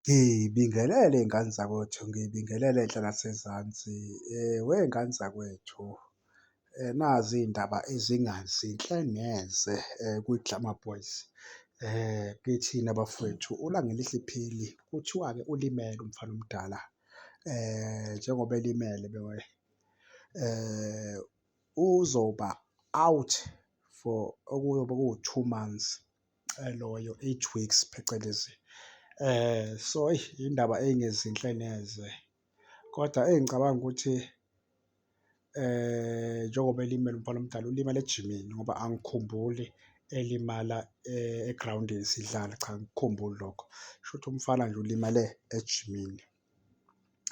Ngibingelele y'ngane zakwethu, ngibingelele enhla nasezansi. Wey'ngane zakwethu nazi iy'ndaba ezingazinhle neze kwiGlamour Boys. Kithina bafwethu uLangelihle iphini kuthiwa-ke ulimele umfana omdala njengoba elimele uzoba-out for okuyobe kuwu-two months. loyo eight weeks phecelezi eh so indaba engezinhle neze kodwa engicabanga ukuthi eh njengoba elimele umfana omdala ulimele ejimini ngoba angikhumbuli elimala egroundini sidlala cha angikukhumbuli lokho, shuthi umfana nje ulimale ejimini.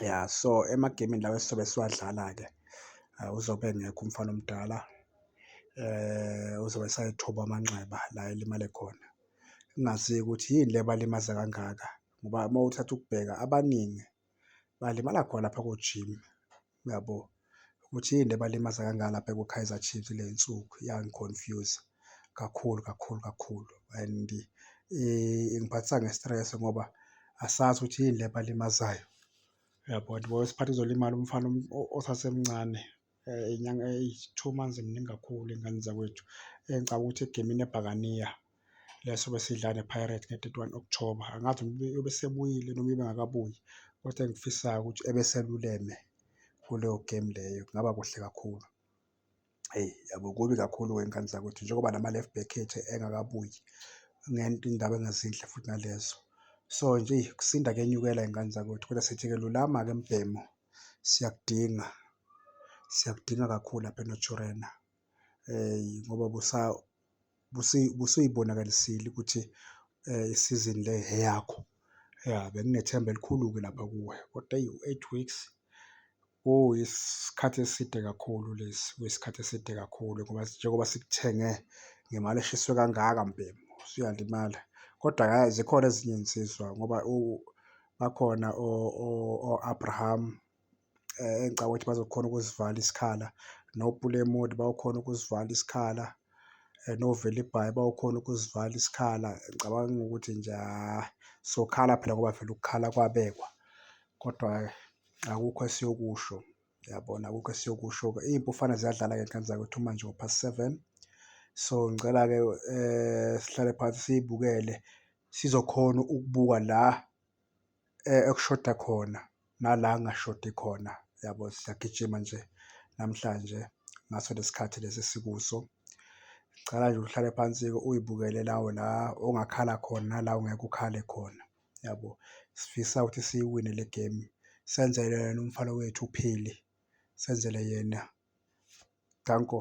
ya so emagemini lawa esizobe siwadlala-ke eh, uzobe engekho umfana omdala eh uzobe sayithoba amanxeba la elimale khona kungazi ukuthi yini le balimaza kangaka ngoba uma uthatha ukubheka abaningi balimala khona lapha kojimi uyabo? Ukuthi yini le ebalimaza kangaka lapha kuKaizer Chiefs kule nsuku yangi-confuse-a kakhulu kakhulu kakhulu and ingiphathisa nge-stress ngoba asazi ukuthi yini le ebalimazayo, uyabo? And kwesinye isikhathi kuzolimala umfana osasemncane inyanga eyi-two months mningi kakhulu ey'nganeni zakwethu engicabanga ukuthi egemini ebhakaniya. leso besidla nePirates nge-thirty one October. Angazi noma uyobe esebuyile noma uyobe engakabuyi, kodwa engikufisayo ukuthi ebe eseluleme kuleyo gemu leyo kungaba kuhle kakhulu. Eyi yabo kubi kakhulu ngey'ngane zakwethu njengoba nama-left back ethu engakabuyi iy'ndaba ezingezinhle futhi nalezo. So nje eyi ukusinda kuyenyukela ngey'ngane zakwethu kodwa sithi-ke lulama-ke mbhemu siyakudinga, siyakudinga kakhulu lapha eNaturena. ngoba busuyibonakalisile ukuthi isizini le eyakho. Ya, benginethemba elikhulu-ke lapha kuwe kodwa eyi u-eight weeks kuyisikhathi eside kakhulu lesi, kuyisikhathi eside kakhulu ngoba njengoba sikuthenge ngemali eshiswe kangaka mbhemu usuyalimala. Kodwa hhayi zikhona ezinye izinsizwa ngoba bakhona o-Abraham, engicabanga ukuthi bazokhona ukusivala isikhala noPulemud bayokhona ukusivala isikhala noVelibhayi bayokhona ukusivala isikhala. Ngicabanga ukuthi nje hhayi sokhala phela ngoba vele ukukhala kwabekwa kodwa akukho esiyokusho yabona. Akukho esiyokusho-ke iy'mpufane ziyadlala-ke ngane zakwethu manje ngo-past seven. So ngicela-ke sihlale phansi siyibukele sizokhona ukubuka la. ekushoda khona nala kungashodi khona yabo. Siyagijima nje namhlanje ngaso lesi khathi lesi esikuso. Ngicela nje uhlale phansi-ke uyibukele nawe la ongakhala khona nala ongeke ukhale khona yabo. Sifisa ukuthi siyiwine le gemu senzele yena umfana wethu uPhili, senzele yena. Danko.